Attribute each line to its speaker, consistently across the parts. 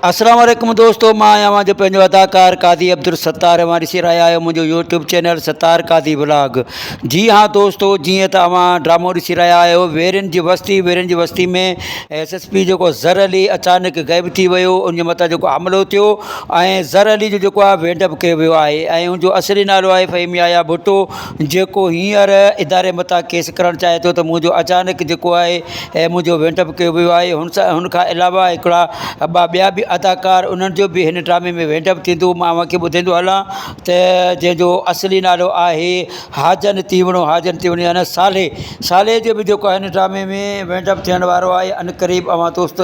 Speaker 1: اسلام عليڪم دوستو مان آهيان اوهان جو پنهنجو اداڪار قاضي عبدالستار اوهان ڏسي رهيا آهيو منهنجو YouTube channel Sattar Qazi vlog جي ها دوستو جيئن ته اوهان ڊرامو ڏسي رهيا آهيو ويرين جي وستي ويرين جي وستي ۾ ايس ايس پي جيڪو ظر علي اچانڪ غائب ٿي ويو ان جي مٿان جيڪو حملو ٿيو ۽ ظر علي جو جيڪو آهي وينڊ اپ ڪيو ويو آهي ۽ ان جو اصلي نالو آهي فهيم يحيٰ ڀٽو جيڪو هينئر اداري مٿان ڪيس ڪرڻ چاهي ٿو ته منهنجو اچانڪ جيڪو آهي هي منهنجو وينڊ اپ ڪيو ويو آهي هن سان هن کان علاوه هڪڙا ٻه ٻيا به اداڪار انهن جو به هن ڊرامي ۾ وينڊ اپ ٿيندو مان اوهان کي ٻڌيندو هلان ته جنهن جو اصلي نالو آهي حاجن تيوڻو حاجن تيوڻو يعنيٰ صالح صالح جو به جيڪو آهي هن ڊرامي ۾ وينڊ اپ ٿيڻ وارو آهي ان قريب اوهان دوست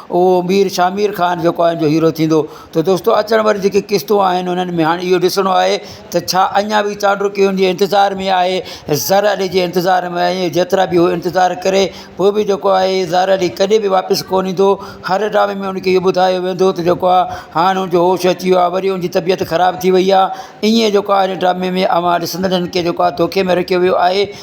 Speaker 1: اهو امير شامير خان جيڪو آهي جو هيرو ٿيندو ته دوستو اچڻ واريون جيڪي قسطون آهن انهن ۾ هاڻي اهو ڏسڻو آهي ته ڇا اڃا به چانڊوڪي ان جي انتظار ۾ آهي زر علي جي انتظار ۾ آهي جيترا به هو انتظار ڪري پوء به جيڪو آهي زر علي ڪڏهن به واپس ڪو نه ايندو هر ڊرامي ۾ ان کي اهو ٻڌايو ويندو ته جيڪو آهي هاڻي ان جو هوش اچي ويو آهي وري ان جي طبيعت خراب ٿي وئي آهي ائين جيڪو آهي ان ڊرامي ۾ اوهان ڏسندڙن کي جيڪو آهي دوکي ۾ رکيو ويو آهي